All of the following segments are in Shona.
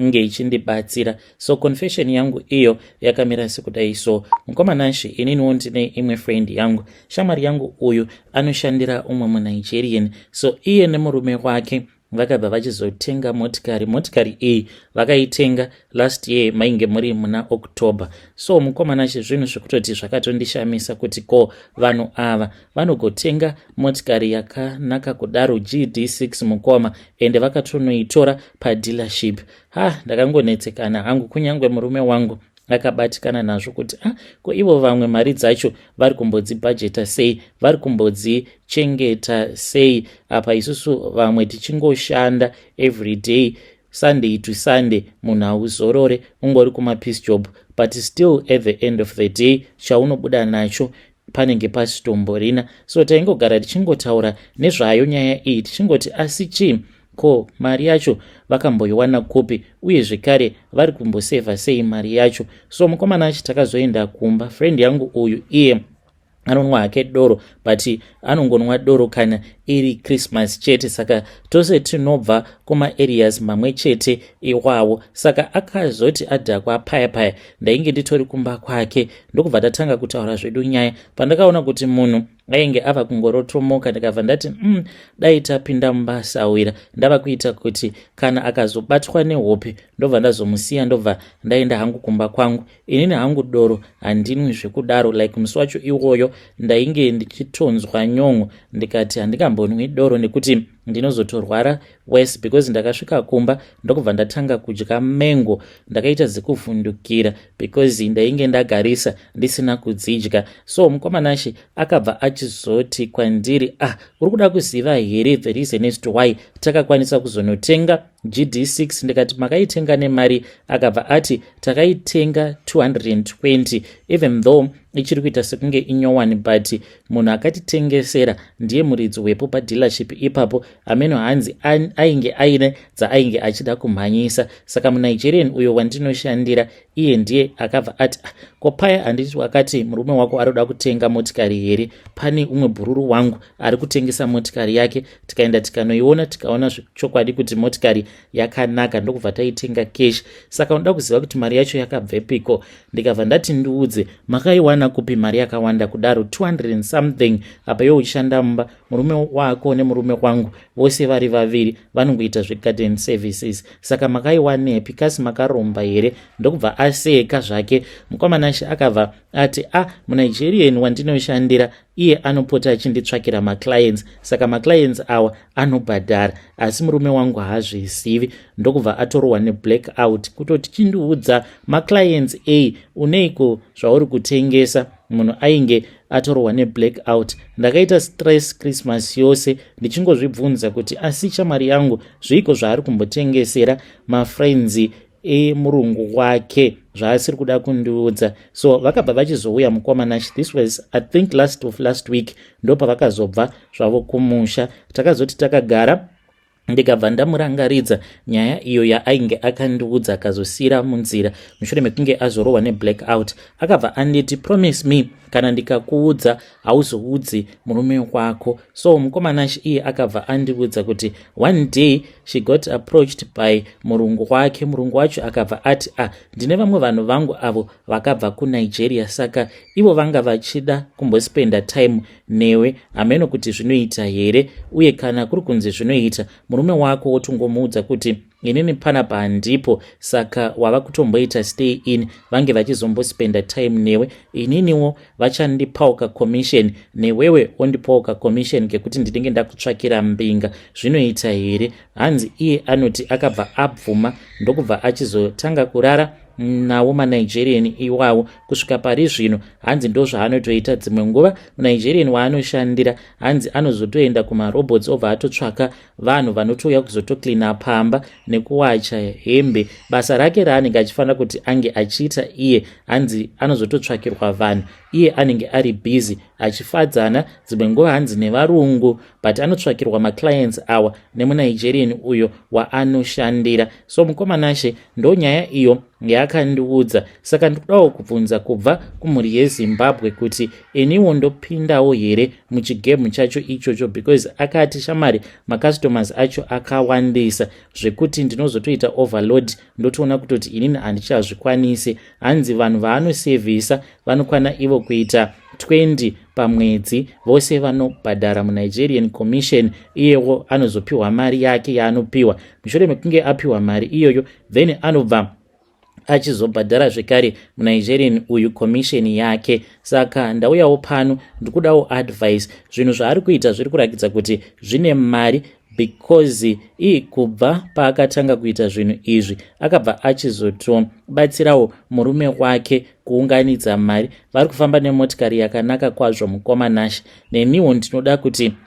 nge ichindibatsira so confession yangu iyo yakamira sekudai so mukoma nashe ininiwo ndine imwe friend yangu shamwari yangu uyu anoshandira umwe munigerian so iye nemurume wake vakabva vachizotenga motikari motikari iyi vakaitenga last year mainge muri muna october so mukomana chezvinhu zvekutoti zvakatondishamisa kuti ko vanhu ava vanogotenga motikari yakanaka kudaro gd6 mukoma ende vakatonoitora padealership ha ndakangonetsekana hangu kunyange murume wangu akabatikana nazvo kuti a ah, ko ivo vamwe mari dzacho vari kumbodzibhajeta sei vari kumbodzichengeta sei apa isusu vamwe tichingoshanda every day sunday to sunday munhu hauzorore ungori kumapeace job but still at the end of the day chaunobuda nacho panenge pasitomborina so taingogara tichingotaura nezvayo nyaya iyi tichingoti asi chii ko mari yacho vakamboiwana kupi uye zvekare vari kumbosevha sei mari yacho so mukomana achi takazoenda kumba friend yangu uyu iye anonwa hake doro but anongonwa doro kana iri christmas chete saka tose tinobva kumaareas mamwe chete iwawo saka akazoti adhakwa paya paya ndainge nditori kumba kwake ndokubva tatanga kutaura zvedu nyaya pandakaona kuti munhu ainge ava kungorotomoka ndikabva ndati um mm, dai tapinda mumba sawira ndava kuita kuti kana akazobatwa nehope ndobva ndazomusiya ndobva ndaenda hangu kumba kwangu inini hangu doro handinwi zvekudaro like musi wacho iwoyo ndainge ndichitonzwa nyon'o ndikati handingambonwi doro nekuti ndinozotorwara worse because ndakasvika kumba ndokubva ndatanga kudya mango ndakaita zikuvhundukira because ndainge ndagarisa ndisina kudzidya so mukomanashe akabva achizoti kwandiri ah uri kuda kuziva here the reason as to why takakwanisa kuzonotenga gd6 ndikati makaitenga nemari akabva ati takaitenga 220 even though ichiri kuita sekunge inyowani but munhu akatitengesera ndiye muridzi wepo padealership ipapo ameno hanzi ainge aine dzaainge achida kumhanyisa saka munigerian uyo wandinoshandira iye ndiye akabva ati ah, ko paya handiti wakati murume wako ari kuda kutenga motikari here pane umwe bhururu wangu ari kutengesa motikari yake tikaenda tikanoiona tikaona zvechokwadi kuti motikari yakanaka ndokubva taitenga kesh saka unoda kuziva kuti mari yacho yakabvepiko ndikabva ndati ndiudze makaiwana kupi mari yakawanda kudaro 200 and something apa yo uchishanda mumba murume wako nemurume wangu vose vari vaviri vanongoita zvegarden services saka makaiwanepi kasi makaromba here ndokubva aseka zvake mukwamanashe akabva ati a ah, munigerian wandinoshandira iye anopota achinditsvakira maclients saka maclients awa anobhadhara asi murume wangu haazvizivi ndokubva atorohwa neblack out kutoti chindiudza maclients a uneiko zvauri kutengesa munhu ainge atorohwa neblack out ndakaita stress christmas yose ndichingozvibvunza kuti asi chamari yangu zviiko zvaari kumbotengesera mafriends e murungu wake zvaasiri kuda kundiudza so vakabva vachizouya mukoma nash this was i think last of last week ndopavakazobva zvavo kumusha takazoti takagara ndikabva ndamurangaridza nyaya iyo yaainge akandiudza akazosiyira munzira mushure mekunge azorohwa neblack out akabva anditi promise me kana ndikakuudza hauzoudzi murume wekwako so mukomana iye akabva andiudza kuti one day she got approached by murungu wake murungu wacho akabva ati a ah, ndine vamwe vanhu vangu avo vakabva kunigeria saka ivo vanga vachida kumbospenda time newe hameno kuti zvinoita here uye kana kuri kunzi zvinoita murume wako wotongomuudza kuti inini panapa handipo saka wava kutomboita stay in vange vachizombospenda time newe ininiwo vachandipawo kacommission newewe ondipawo kacommission kekuti ndinenge ndakutsvakira mbinga zvinoita here hanzi iye anoti akabva abvuma ndokubva achizotanga kurara nawo manigerian iwawo kusvika pari zvino hanzi ndozvaanotoita dzimwe nguva munigerian waanoshandira hanzi anozotoenda kumarobots obva atotsvaka vanhu vanotouya kuzotocleana pamba nekuwacha hembe basa rake raanenge achifanira kuti ange achiita iye hanzi anozototsvakirwa vanhu iye anenge ari busy achifadzana dzimwe nguva hanzi nevarungu but anotsvakirwa maclients awa nemunigerian uyo waanoshandira so mukomanashe ndonyaya iyo Yaakandiudza saka ndikudawo kubvunza kubva kumhuri yezimbabwe kuti iniwo ndopindawo here muchigemu chacho ichocho because akati shamari macustomers acho akawandisa zvekuti ndinozotoita overload ndotoona kutoti inini handichazvikwanisi hanzi vanhu vaanosevhisa vanokwana ivo kuita 20 pamwedzi vose vanobhadhara munigerian commission iyewo anozopiwa mari yake yaanopiwa mushure mekunge apiwa mari iyoyo then anobva achizobhadhara zvekare munigerian uyu commission yake saka ndauyawo pano ndikudawo advice zvinhu zvaari kuita zviri kurakidza kuti zvine mari because ii kubva paakatanga kuita zvinhu izvi akabva achizotobatsirawo murume wake kuunganidza mari vari kufamba nemotikari yakanaka kwazvo mukoma nashe neniwo ndinoda kuti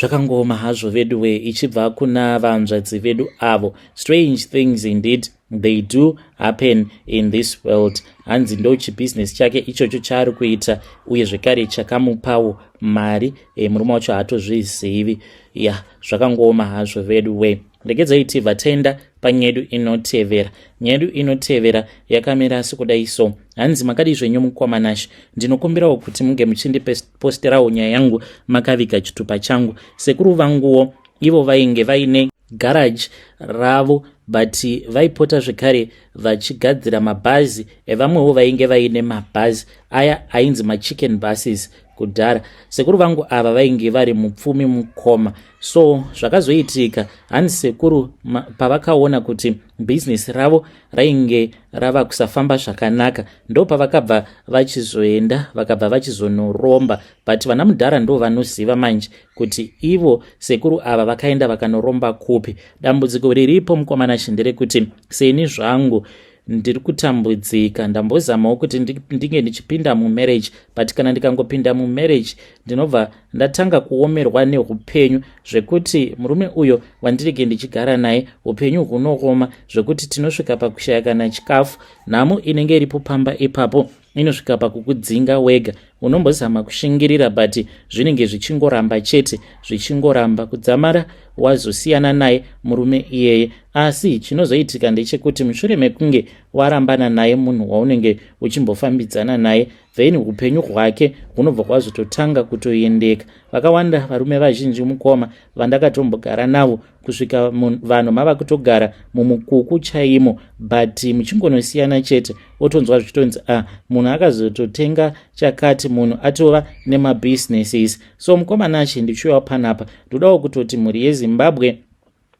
Zvakangooma hazvo veduwe ichibva kuna vanzvadzi vedu avo. Strange things indeed they do happen in this world. Hanzi ndo chibusiness chake ichocho chaari kuita uye zvekare chakamupawo mari e, murume wacho haatozvizivi. Ya zvakangooma hazvo veduwe. Regedzai tibva tenda panyedu inotevera. Nyedu inotevera yakamira asi kudai so. Hanzi makadii zvenyu mukoma Nash. Ndinokumbirawo kuti munge muchindipe posterawo nyaya yangu makaviga chitupa changu sekuru vanguwo ivo vainge vaine garage ravo but vaipota zvekare vachigadzira mabhazi evamwewo vainge vaine mabhazi aya ainzi machicken buses kudhara sekuru vangu ava vainge vari mupfumi mukoma so zvakazoitika hanzi sekuru pavakaona kuti bhizinesi ravo rainge rava kusafamba zvakanaka ndopavakabva vachizoenda vakabva vachizonoromba but vana mudhara ndo vanoziva manje kuti ivo sekuru ava vakaenda vakanoromba kupi dambudziko riripo mukomana shi nderekuti seni zvangu ndiri kutambudzika ndambozamawo kuti ndinge ndichipinda mumarriage but kana ndikangopinda mumarriage ndinobva ndatanga kuomerwa neupenyu zvekuti murume uyo wandirege ndichigara naye upenyu hunooma zvekuti tinosvika pakushaya kana chikafu nhamo inenge iripo pamba ipapo inosvika pakukudzinga wega unombozama kushingirira but zvinenge zvichingoramba chete zvichingoramba kudzamara wazosiyana naye murume iyeye asi chinozoitika ndechekuti mushure mekunge warambana naye munhu waunenge uchimbofambidzana naye then upenyu hwake hunobva kwazototanga kutoendeka vakawanda varume vazhinji mukoma vandakatombogara navo kusvika vanhu mava kutogara mumukuku chaimo but muchingonosiyana chete otonzwa zvichitonzi a ah, munhu akazototenga chakati munhu atova nemabusinesses so mukoma nashe ndichiuyawo panapa ndodawo kutoti mhuri yezimbabwe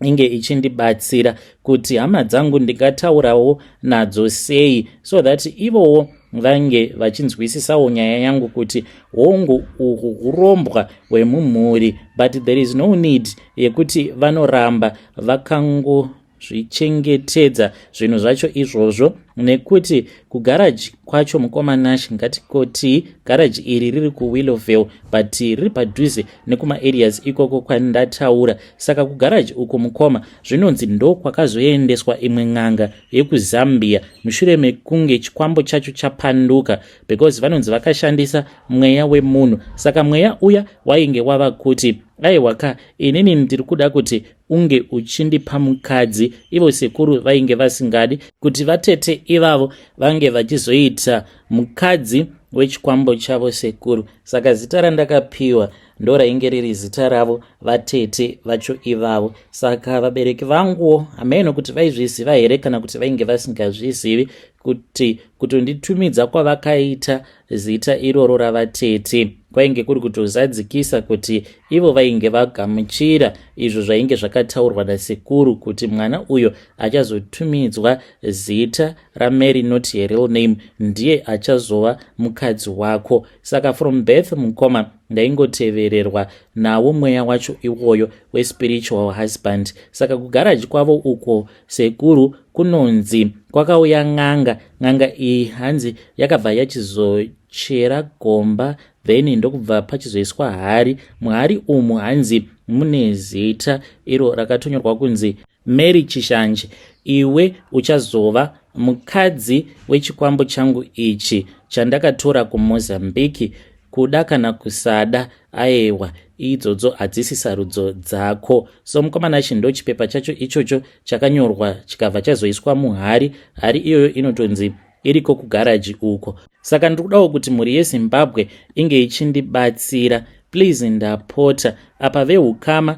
inge ichindibatsira kuti hama dzangu ndingataurawo nadzo sei so that ivowo vange vachinzwisisawo nyaya yangu kuti hongu uhu urombwa hwemumhuri but there is no need yekuti vanoramba vakango zvichengetedza zvinhu zvacho izvozvo nekuti kugaraji kwacho mukoma nash ngatikoti garaji iri riri kuwillowville but riri padhuze nekuma areas ikoko kwandataura saka kugaraji uko mukoma zvinonzi ndokwakazoendeswa imwe n'anga yekuzambia mushure mekunge chikwambo chacho chapanduka because vanonzi vakashandisa mweya wemunhu saka mweya uya wainge wava kuti aiwa ka inini ndiri kuda kuti unge uchindipa mukadzi ivo sekuru vainge vasingadi kuti vatete ivavo vange vachizoita mukadzi wechikwambo chavo sekuru saka zita randakapiwa ndo rainge riri zita ravo vatete vacho ivavo saka vabereki vanguwo hameno kuti vaizviziva here kana kuti vainge vasingazvizivi kuti kutonditumidza kwavakaita zita iroro ravatete kwainge kuri kutozadzikisa kuti ivo vainge vagamuchira izvo zvainge zvakataurwa nasekuru kuti mwana uyo achazotumidzwa zita ramary not her real name ndiye achazova mukadzi wako saka from birth mukoma ndaingotevererwa nawo mweya wacho iwoyo wespiritual husband saka kugaraji kwavo uko sekuru kunonzi kwakauya n'anga n'anga iyi hanzi yakabva yachizochera gomba then ndokubva pachizoiswa hari muhari umu hanzi mune zita iro rakatonyorwa kunzi Mary Chishanje, iwe uchazova mukadzi wechikwambo changu ichi chandakatora kuMozambique kuda kana kusada aewa idzodzo hadzisi sarudzo dzako so mukomana chindo chipepa chacho ichocho chakanyorwa chikabva chazoiswa muhari hari iyoyo inotonzi iriko kugaraji uko saka ndiri kudawo kuti mhuri yezimbabwe inge ichindibatsira please ndapota apa veukama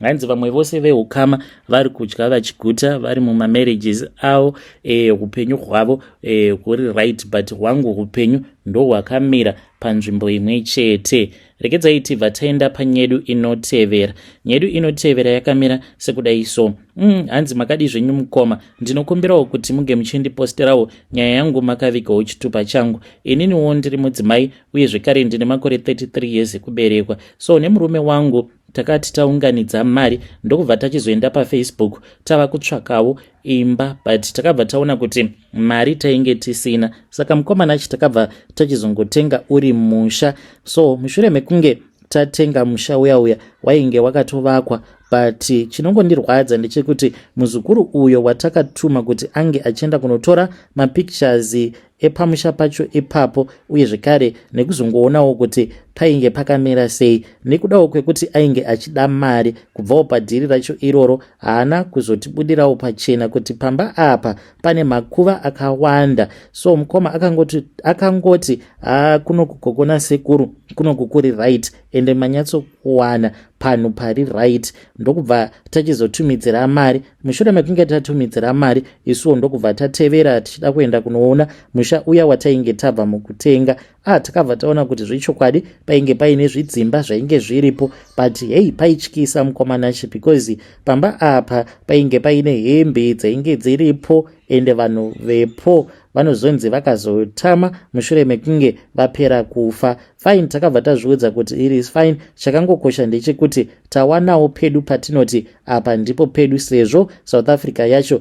hanzi vamwe vose veukama vari kudya vachiguta vari mumamarriages avo e, upenyu hwavo e, huri right but hwangu upenyu ndohwakamira panzvimbo imwe chete rekedzai tibva taenda panyedu inotevera nyedu inotevera yakamira sekudai so mm, hanzi makadii zvenyu mukoma ndinokumbirawo kuti muge muchindiposterawo nyaya yangu makavigawo chitupa changu ininiwo ndiri mudzimai uye zvekare ndine makore 33 years ekuberekwa so nemurume wangu takati taunganidza mari ndokubva tachizoenda pafacebook tava kutsvakawo imba but takabva taona kuti mari tainge tisina saka mukomana achi takabva tachizongotenga uri musha so mushure mekunge tatenga musha uya uya wainge wakatovakwa but chinongondirwadza ndechekuti muzukuru uyo watakatuma kuti ange achienda kunotora mapictures epamusha pacho ipapo uye zvekare nekuzongoonawo kuti painge pakamira sei nekudawo kwekuti ainge achida mari kubvawo padhiri racho iroro haana kuzotibudirawo pachena kuti pamba apa pane makuva akawanda so mukoma akangoti akangoti haa kunokugogona sekuru kunokukuri right ende manyatsokuwana panhu pari right ndokubva tachizotumidzira mari mushure mekunge tatumidzira mari isuwo ndokubva tatevera tichida kuenda kunoona musha uya watainge tabva mukutenga a takabva taona kuti zvechokwadi painge paine zvidzimba zvainge zviripo but hei paityisa mukomanachi because pamba apa painge paine hembe dzainge dziripo ende vanhu vepo vanozonzi vakazotama mushure mekunge vapera kufa fine takabva tazviudza kuti it is fine chakangokosha ndechekuti tawanawo pedu patinoti apa ndipo pedu sezvo south africa yacho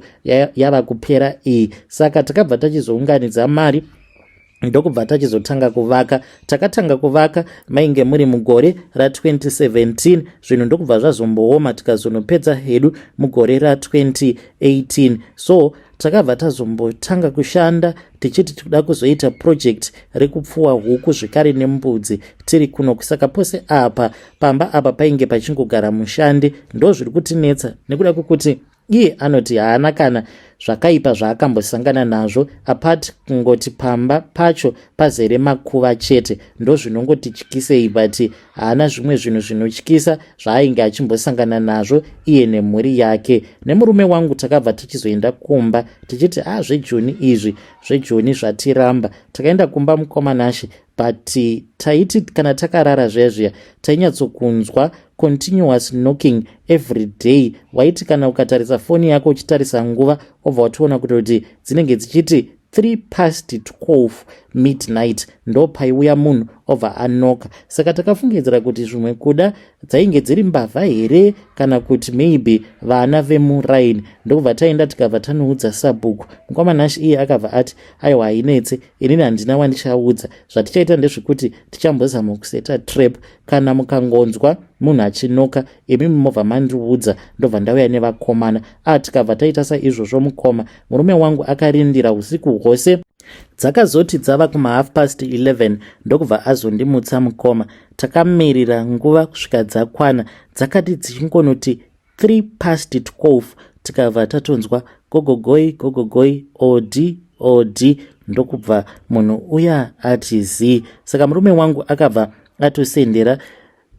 yava kupera iyi saka takabva tachizounganidza mari ndokubva tachizotanga kuvaka takatanga kuvaka mainge muri mugore ra2017 zvinhu ndokubva zvazombooma tikazonopedza hedu mugore ra2018 so takabva tazombotanga kushanda tichiti tikuda kuzoita project rekupfuwa huku zvekare nembudzi tiri kuno kusaka pose apa pamba apa painge pachingogara mushandi ndo zviri kutinetsa nekuda kwekuti iye anoti haana kana zvakaipa zvaakambosangana nazvo apart kungoti pamba pacho pazere makuva chete ndozvinongotityisei but haana zvimwe zvinhu zvinotyisa zvaainge achimbosangana nazvo iye nemhuri yake nemurume wangu takabva tichizoenda kumba tichiti a ah, zvejoni izvi zvejoni zvatiramba takaenda kumba mukoma nashe but eh, taiti kana takarara zviya zviya tainyatsokunzwa continuous knocking every day waiti kana ukatarisa foni yako uchitarisa nguva obva watoona kuti kuti dzinenge dzichiti 3 past 12 midnight ndo paiuya munhu obva anoka saka takafungidzira kuti zvimwe kuda dzainge dziri mbavha here kana kuti maybe vana vemuraini ndokubva taenda tikabva tanoudza sabhuku mukoma nash iye akabva ati aiwa hainetse inini handina wandichaudza zvatichaita ndezvekuti tichambozama kuseta trap kana mukangonzwa munhu achinoka imi mobva mandiudza ndobva ndauya nevakomana a tikabva taita saizvozvo mukoma murume wangu akarindira usiku hwose dzakazoti dzava kumahalf past 11 ndokubva azondimutsa mukoma takamirira nguva kusvika dzakwana dzakati dzichingonoti 3 past 12 tikabva tatonzwa gogogoi gogogoi od od ndokubva munhu uya ati zii saka murume wangu akabva atosendera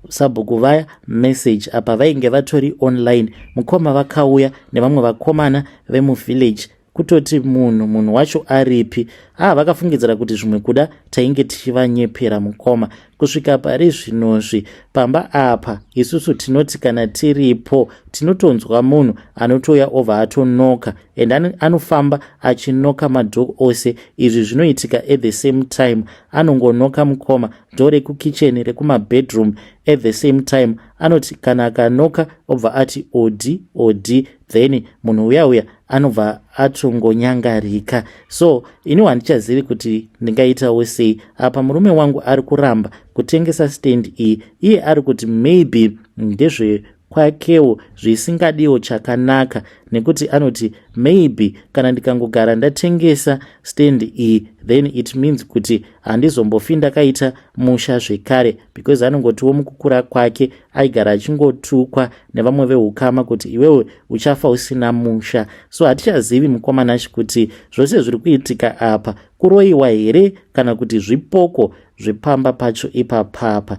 Sabhuku vaya message apa vainge vatori online mukoma vakauya nevamwe vakomana vemuvillage kutoti munhu munhu wacho aripi haa ah, vakafungidzira kuti zvimwe kuda tainge tichivanyepera mukoma kusvika pari zvinozvi pamba apa isusu tinoti kana tiripo tinotonzwa munhu anotouya ova atonoka and anofamba achinoka madhok ose izvi zvinoitika at the same time anongonoka mukoma door rekukitchen rekumabedroom at the same time anoti kana akanoka obva ati odi odi then munhu uya uya anobva atongonyangarika so iniwo handichazivi kuti ndingaitawo sei apa murume wangu ari kuramba kutengesa stand iyi iye ari kuti maybe ndezve kwakewo zvisingadiwo chakanaka nekuti anoti maybe kana ndikangogara ndatengesa stand iyi then it means kuti handizombofi ndakaita musha zvekare because anongotiwo mukukura kwake aigara achingotukwa nevamwe veukama kuti iwewe uchafa usina musha so hatichazivi mukomanashi kuti zvose zviri kuitika apa kuroyiwa here kana kuti zvipoko zvepamba pacho ipapapa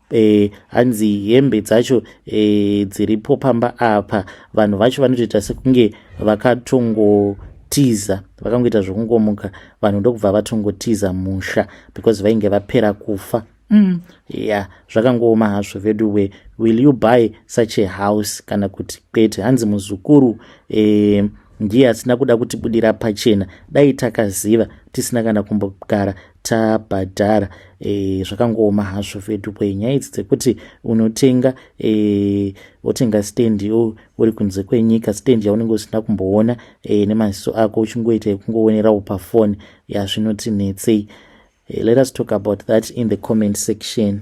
e, hanzi hembe dzacho e, dziripo pamba apa vanhu vacho vanotoita sekunge vakatongotiza vakangoita zvokungomuka vanhu ndokubva vatongotiza musha because vainge vapera kufa mm. yeah zvakangooma hazvo vedu we will you buy such a house kana kuti kwete hanzi muzukuru e, ndiye asina kuda kutibudira pachena dai takaziva tisina kana kumbogara tabhadhara e, zvakangooma hazvo vedupo nyaya idzi dzekuti unotenga e, wotenga stand yo uri kunze kwenyika stand yaunenge usina kumboona e, nemaziso ako uchingoita yekungowonerawo pafoni yazvinotinetsei e, let us talk about that in the comment section